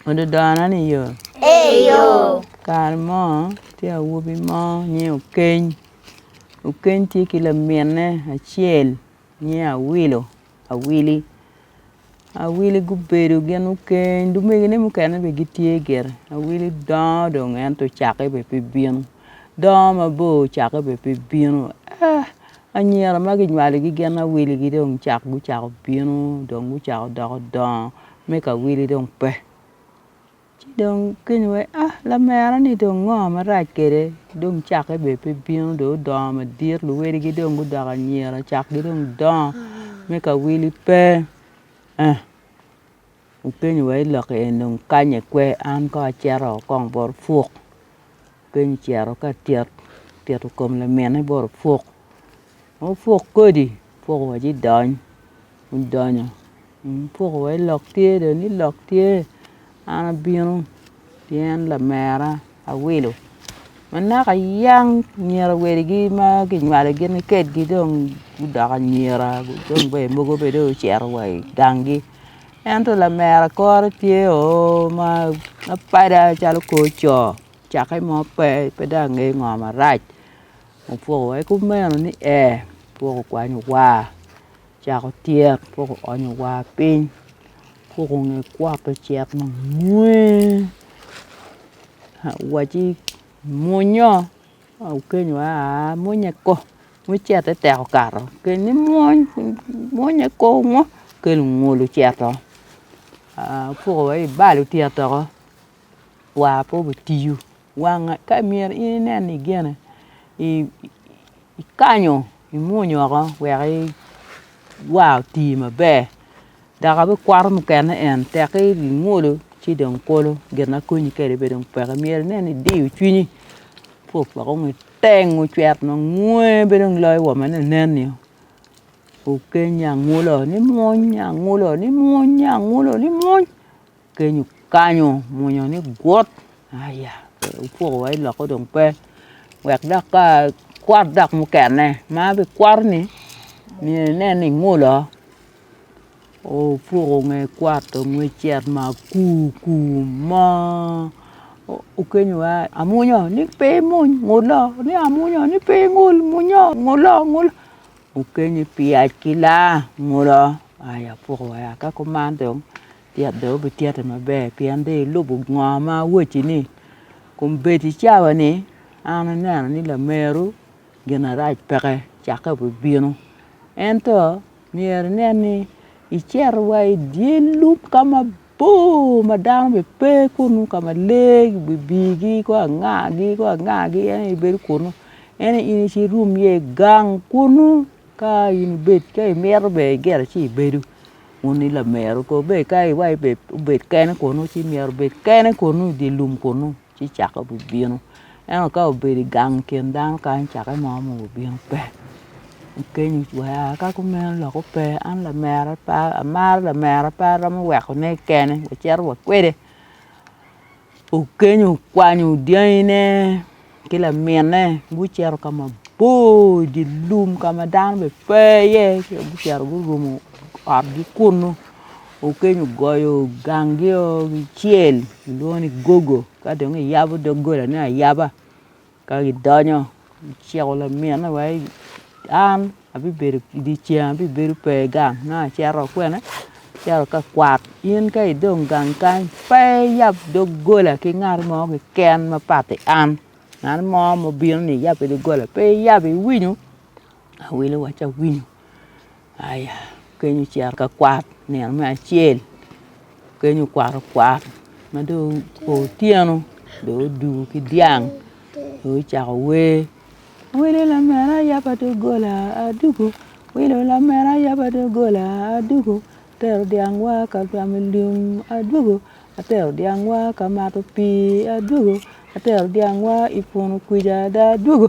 Ododona ni yo? Ee yo. Kare mo tye awobi mo nyinge Okeny, Okeny tye ki laminne acel nyinge Awilo, Awili. Awili gubedo gin Okeny lumegine mukene bene gitye gire. Awili dongo dong ento cake bene pe bino, dongo mabor cake bene pe bino eeh anyira ma ginywalogi gin Awiligi dong cak gucako bino dong gucako doko dongo me ka wili dong pe. Ci dong kiny wai ah lamera ni dong ngo marac kwede dong cake bene pe bino dong odongo madit luwedi gi dong gudoko anyira cak gi dong dongo me ka wili pe ah upenyo wa i lokke eni dong kanye kwe an kong acito kong bot puk. Keny ocito ka tit, otito kom lamine bot opuk ma opuk kodi opuk wa ci dony odonyo opuk wa ni lok tye dong ni lok tye an abino pien lamera awilo ma naka yang nyira wadigi ma kinywalo gin kikedgi dong gudoko anyira dong ber mogo bene dong ocito wa i gangi ento lamera kore tye oo ma pada calo kor coo. Cakke mo pe, pe dong ange ngo marac opwoko wa ki kumeno ni ee opwoko okwanyo wa ocako tyet opwoko oonyo wa piny opwoko nge kwot ocek mamwonya waci mwonyo okenyo wa aa mwonya ko ma icete tek okato okel ni mwony mwonya ko ngo okelo ngol oceto opwoko wa ki ibal otyet doko. war pe obitiyo wanga ka myero in inen ni gene ikanyo imwony woko wek war oti maber dok abikwoto mukene en tekki ingolo ci dong kolo gin ma konyi kwede bene dong peke myero inen ni idiyo cwinyi ci opoko ngo iteng ocwero mangwe pe dong loyo wome ni nen ni okenyo angolo nimwony, angola nimwony, angola nimwony. Kenyo kanyo mwonya ni gut aya wupoko wa iloko dong pe wek dok ka kwat dok mukene ma bi kwato ni myero inen ni ingolo opuko nge kwat onge cet ma kur kur mo okenyo wa amwonyo ni pe imwony ngulo ni amwonyo ni pe ingol mwonyo ngulo ngulo okenyi pi yac ki laa ngulo aya apuko wa ka kuman dong. Tyet bene wubityete maber, pien dong ilubo ngo ma awacci-ni. Kun bed i cawa ni an aneno ni lameru ginarac peke cakke obibino. Ento myero inen ni icito wa i dye lum ka mabor ma dano bene pe kunnu ka ma lee bibirgi ki angagi ki angagi en aye ibedo kunnu. Ento in icit irum iye i gang kunnu ka in ibed ka imito bene iryero ci ibedo. Wun i lamero kong bed ka iwaco ni obed kene kunu ci myero obed kene kunu i dye lum kunu ci caka obibino ento ka obedo i gang i kin dano kany cake mo onongo obino pe okenyo wa ka kumeno lok ope an lamera pe amaro lamera pe aromo wekone kene wacito wa kwede. Okenyo okwanyo dyangine ki lamine gucito ka mabor i dye lum ka ma dano bene pe iye ci gucito gurumo otgi kunnu Okenyo ogoyo gangio ki cel kilwongo ni gogo ka dong iyabo doggolane ayaba. Ka gidonyo, giciko laminne wai an abibedo i dye ceng abibedo pe i gang nongo acito kwene acito ka kwat in ka idong gang kany pe iyab doggola ki ngat mo keken ma padi an ngat mo ma obino ni iyabbe doggola pe iyab iwinyo? Awelo wacci awinyo. Aya, keny ocito ka kwat nino me acel, keny okwato kwat ma dong o otyeno dong oduu ki dyang dong ocako wer, wele lamera yaba doggola adwogo, wele lamera yaba doggola adwogo, atero dyangwa ka camo lum adwogo, atero dyangwa ka mato pii adwogo, atero dyangwa i punu kwija ada adwogo.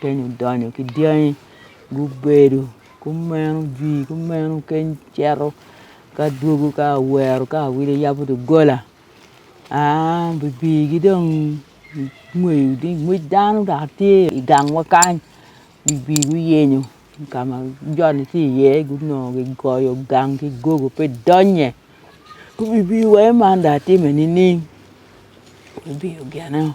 Keny odonyo ki dyangi gubedo gumeno jwi gumeno keny cito ka dwogo ka awero ka awilo yabo doggola aa bibigi dong ingweyo ni ngwec dano dok tye i gangwa kany bibi guyenyo ka ma joni tye iye gunongo gigoyo gang ki gogo pe idonnye bibi wai man dong atime nining bibi ogeneo.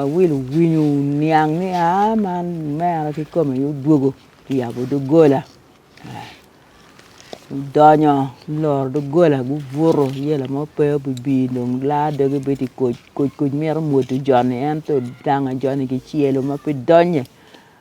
Awilo winyo niang ni aa man mere kikome aye odwogo oyabo doggola odonyo oloro doggola gubuto yelo mo pe obibi dong laa doge bedo koc koc myero omwodo joni ento dang ajoni kicelo ma pe donye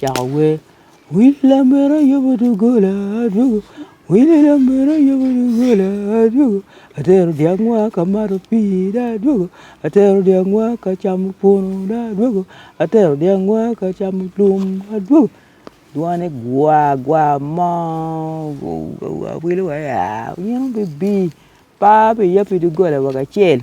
Cako wer, Wi lamego ayobo doggola adwogo, wi lamego ayobo doggola adwogo, atero dyangwa ka mato pii dong adwogo, atero dyangwa ka camo punu dong adwogo, atero dyangwa ka camo lum dong adwogo, dwane gwa gwa moo, awilo wa yaa, onyino bibi, par pi ya pi doggola woko acel.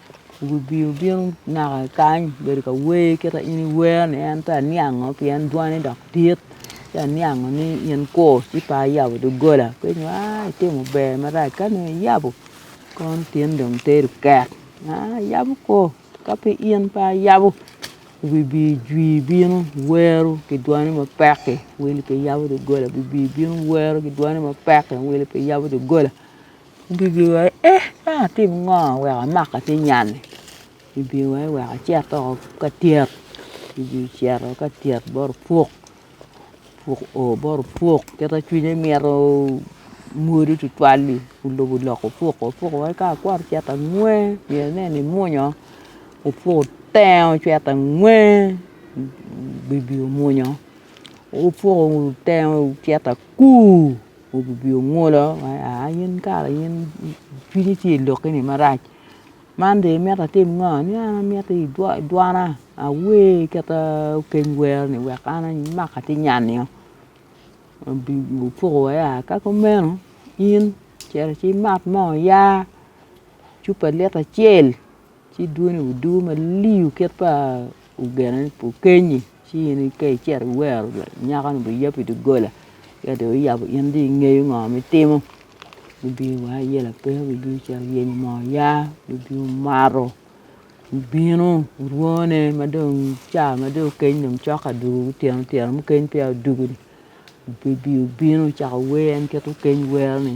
Wibio bino naka kany bedo ka wer kit ma in iwero ni en pe aniango pien dwone dok dit ci aniango ni in kur ci pe ayabo doggola pe inge ni aai itimo ber marac ka nongo iyabo kon tin dong tedo kek aai ayabo kur ka pe in pe ayabo wibi jwi bino wero ki dwoni mapek-ki wel pi yabo doggola wibi bino wero ki dwoni mapek-ki wel pi yabo doggola. Gigi wa ni eeh ma atim ngo wek amak ki nyani gigi wa ni wek acit dok ka tyet gigi ocito ka tyet bot opuk opuk o bot opuk kita cwinye mito mwodi tutwal-li olubo loko opuk o opuk wa ni ka akwot ocito angwe myero ineni imwonyo opuk otenge ocito angwe gigi omwonyo opuk otenge ocito akur Obibio ngolo ma aa in kara in cwinyi tye i lokke ni marac man dong imito atim ngo ni an amito i dwana awer kit keny wero ni wek an amak atinyan nio Obibio poko wa ya ka kumeno in cito ci imat moo ya cupa lita acel Ci dwoni odugo malii kit pa ogena ni pu Kenyi ci in ka icito iwero nyakanu biyab i doggola ci ka dong wuyabo in dong ingeyo ngo ma itimo gubino wa iye lapeny gubino cito guyenyo moo oya gubino omato gubino orwone ma dong ca ma dong okeny dong cok adwogo otyeno otyeno mukene peya odugo-ni gubino cako wer en kit okeny wero-ni.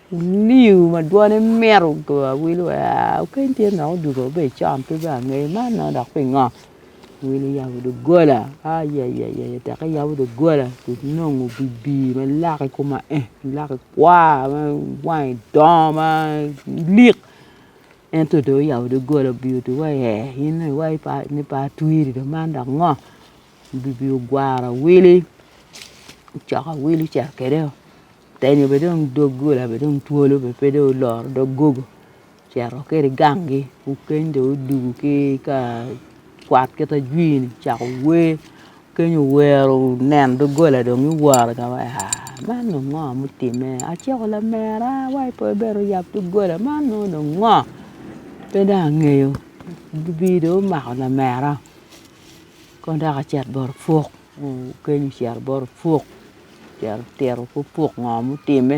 Liu ma dwone mit ogoyo awilo aa kany tye nok odwogo wa bedo con pe bene angeyo man nongo dok pingo? Awilo oyabo doggola ayayaya teka yabo doggola onongo obibi ma lake kome aye lake kwar ma wange dongo ma lik ento dong oyabo doggola obiyo dong wa i ee in dong iwaco ni pe atwir i dye man dok ngo? Obibi ogwaro awili ocoko awili ocito kwede o. Otenyo bene dong dog gola bene dong twolo bene pe dong oloro dog gogo ocito ki i gangi kukeny dong odwogo ki i ka kwat kit ajwiri ocako wer keny owero oneno doggola dong iworo iye wai aa man dong ngo mutimme aciko lamera wai pe ibed oyab doggola man nongo dong ngo pe dong angeyo, lubiri dong omako lamera kong dok ocit bot opuk. Okelli ocito bot opuk, ocito tito ki opuk ngo mutimme,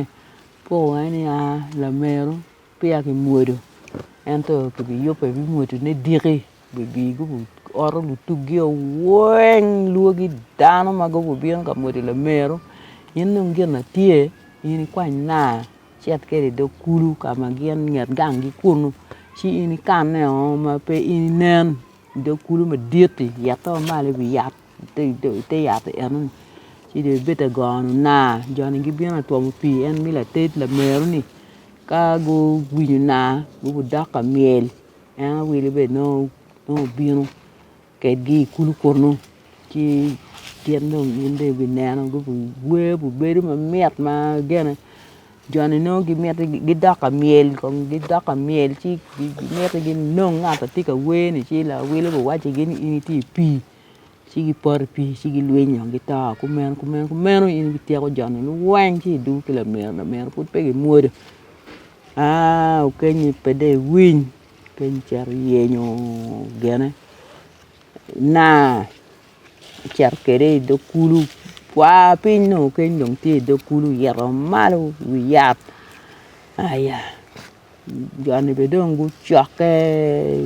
opuk weng ni a lameru peya ki mwodo ento ki bi yubbe bi mwodo ne diki bi bi gubi oto lutugi o weng lwogi dano ma gubi bino ka mwodo lameru in dong gin na tye in i kwany naa icit kwede i dog kulu ka ma gin inget gang gi kunu ci in ikanne o ma pe in inen. I dog kulu madit-ti yatte ma malo i wi yat i te yat enoni ci dong ibed ka goyo ona jo-ni gibino ka twomo pii en me lated lameroni ka guwinyo ona gubidok ka myel en wele be nongo obino kedgi i kulu kunu ci gin dong gibineno gubiwer gubedo mamit ma gene. Jo-ni nongo gimiti gidok ka myel kong gidok ka myel ci gimiti ginong ngat ma tye ka wer-ni ci lawil obin owacci-gi ni in itye i pii ci gipoto i pii ci gilwiny dong gito kumeno kumeno kumeno in ityeko jo-ni weng ci idwogo ki lamiro lamiro pud pe gimwodo aa okenyi pe dong iwiny okenyi icito iyenyo gene naa. icito kwede i dog kulu, kwa piny dong keny dong tye i dog kulu ito malo i wi yat aya joni bene dong gucokke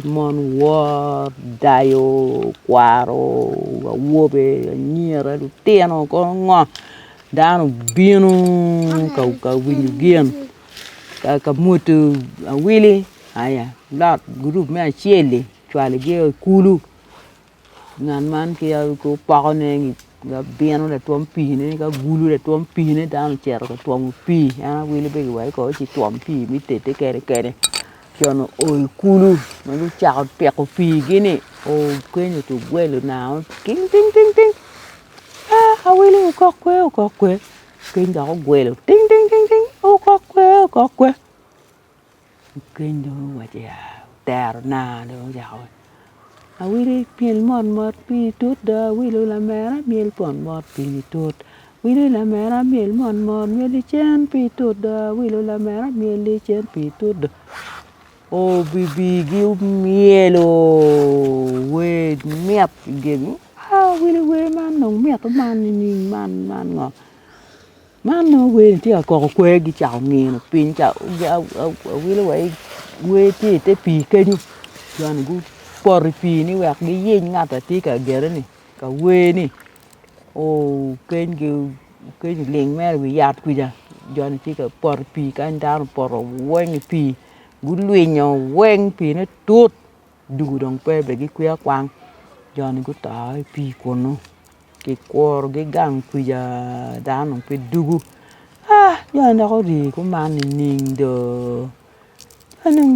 mon wor, dayo, kwaro, awobe, anyira, lutino kono ngo dano obino ka winyo gin ka mwudu awili aya lot gurup me acel-li ocwalo gi o i kulu. Ngat man ki opoko ne ni bino latwom pii ne ka gulu latwom pii ne dano ocito ka twomo pii en awilo be giwaco kede ni ci twom pii me tede kene kene co ni oo i kulu ma gucako piko pii gi ni oo kenyo to ogwelo nanga ting ting ting ting aa awilo okok kwe okok kwe keny dok ogwelo ting ting ting ting okok kwe okok kwe Keny dong owaco ya otero na dong ocako awili myel mot mot pii tut do awilu lamera myel mot mot pii tut wili lamera myel mot mot myel licen pii tut do awilu lamera myel licen pii tut do obibi gi omyelo wer mit i gegi awili wer man dong mito man nining man man ngo. Man nongo wer ni tye ka koko kwer gi cako ngino piny ca awilo wa ni wer tye ite pii kenyo jo ni gupoto i pii ni wek giyec ngat ma tye ka gere ni ka wer ni okeny gi okenyo ling mere i wi yat kwica jo ni tye ka poto i pii kany dano opoto weng i pii gulwinyo weng pii ne tut. Dul dong pe bene gikwiya kwang, jo-ni guto i pii kunu, kikurogi gang kwija dano dong pe dugo aa jo-ni dok ori kuman nining doo, jo-ni dong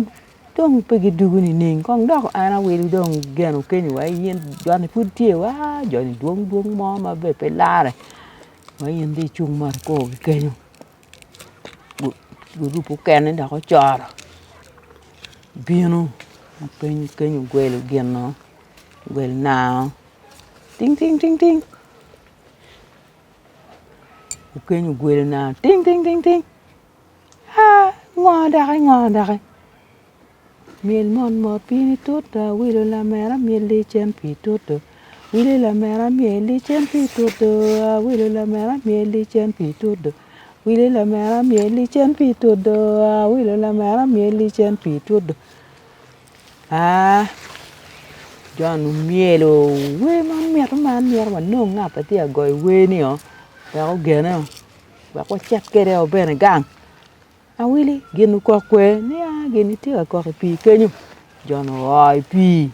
dong pe gidugo nining kong dok an awilo dong geno kenyo wa i in jo-ni pud tye wa aa jo-ni dwong dwong mo ma bene pe lare ma in dong icung mot ikor-gi kenyo. gurup mukene dok gucoro bino ma piny ogwelo gino ogwelo nanga ting ting ting ting piny ogwelo nanga ting ting ting ting haa ngo doki ngo doki. Myel mot mot pi ni tuta wilo lamera myel licen pi tutu wilo lamera myel licen pi tutu aa wilo lamera myel licen pi tutu wilo lamera myel licen pi tutu aa wilo lamera myel licen pi tutu aa John omyelo wer ma mito ma an myero wanong ngat ma tye ka goyo wer ni oo wek ogene oo wek wacit kwede oo bene gang. Awili gin okok kwede ni a gin itye ka kok i pii kenyo jo-nu oa i pii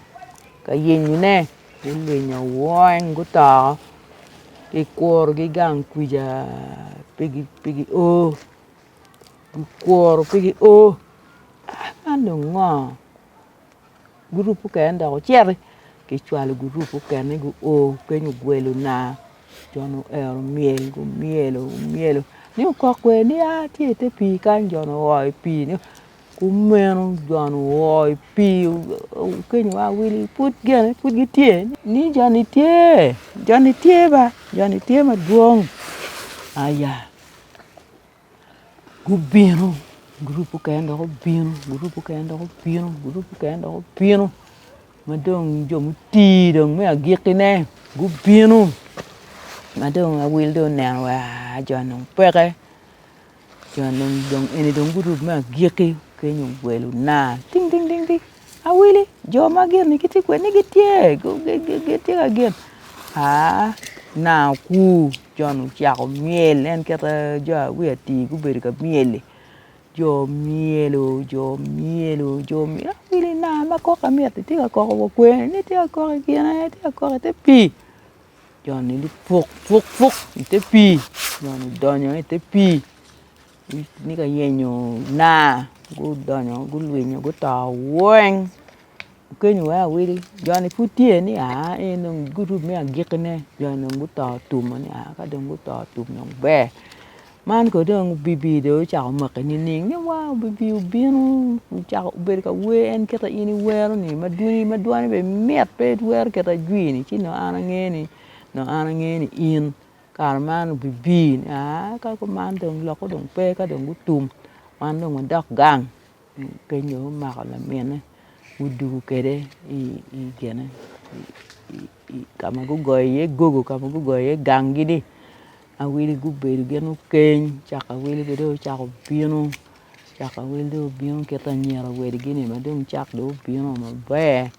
ka yenyone gulwinyo weng guto kikurogi gang kwija pe gio kikuro pe gio man dong ngo. Gurup okene dok ociti ki cwalo gurup okene gu o keny ogwelo naa jo nu ero myel gu myelo gu myelo ni okok kwede ni aa tye ite pii kany jo nu oo i pii ni kumeno jo nu oo i pii okenyo wa wili pud gene pud gitye ni jo ni tye jo ni tye ba jo ni tye madwong aya. Gubino, gurup mukene dok gubino, gurup mukene dok gubino, gurup mukene dok gubino ma dong jo muti dong me agikkine gubino ma dong awil dong oneno wa joni dong peke, joni dong eni dong gurup me agikki keny owelo na ding ding ding. Awili jo ma gin-ni gitye kwed ni gitye gitye ka gen aa nanga okur Jon ocako myel en kite jo awic atir gubedo ka myel-li jo myelo jo myelo jo myelo awili nanga ma kok amyero-ri tye ka koko wa kwer-ni tye ka kok i kine tye ka kok i te pii Jon-ni lupuk puk puk i te pii Jon odonyo i te pii ni ka yenyo na gudonyo gulwinyo guto weng okenyo wai awili joni pud tye ni aa en dong gurup me agiki ne joni dong guto tum ma ni aa ka dong guto tum dong ber man kono dong obibi dong ocako maki nining ni wa obibi obino ocako obedo ka wer en kit ma in iwero ni ma dwoni ma dwone bene mit pe iwero kit ajwi ni ci dong an ange ni dong an ange ni in Kare man obibi ni aa ka kuman dong lok-ku dong pe ka dong gutum wan dong wadok gang, penyo omako lamine gudugu kede i gine ka ma gugoyo iye gogo ka ma gugoyo iye gangi ni awili gubedo gin okeny caka awili be dong ocako bino caka awili dong obino kit anyira wadigi ni ma dong cak dong obino maber.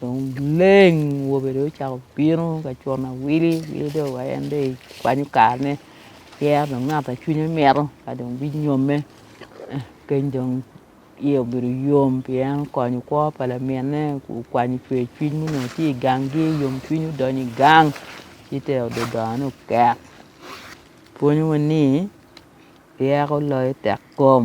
Dong leng wobe dong ocako bino ka cun awili awili dong wa en dong ekwanyo karane yero dong ngat ma cwinye mito ka dong binyomme keny dong iye obedo yom pi en okonyo kwo pa laminne okwanyo cwer cwiny ma onongo tye i gangi yomcwiny odonyo i gang ci te odo odongone oket pwonyowa ni ryeko loyo tekkom.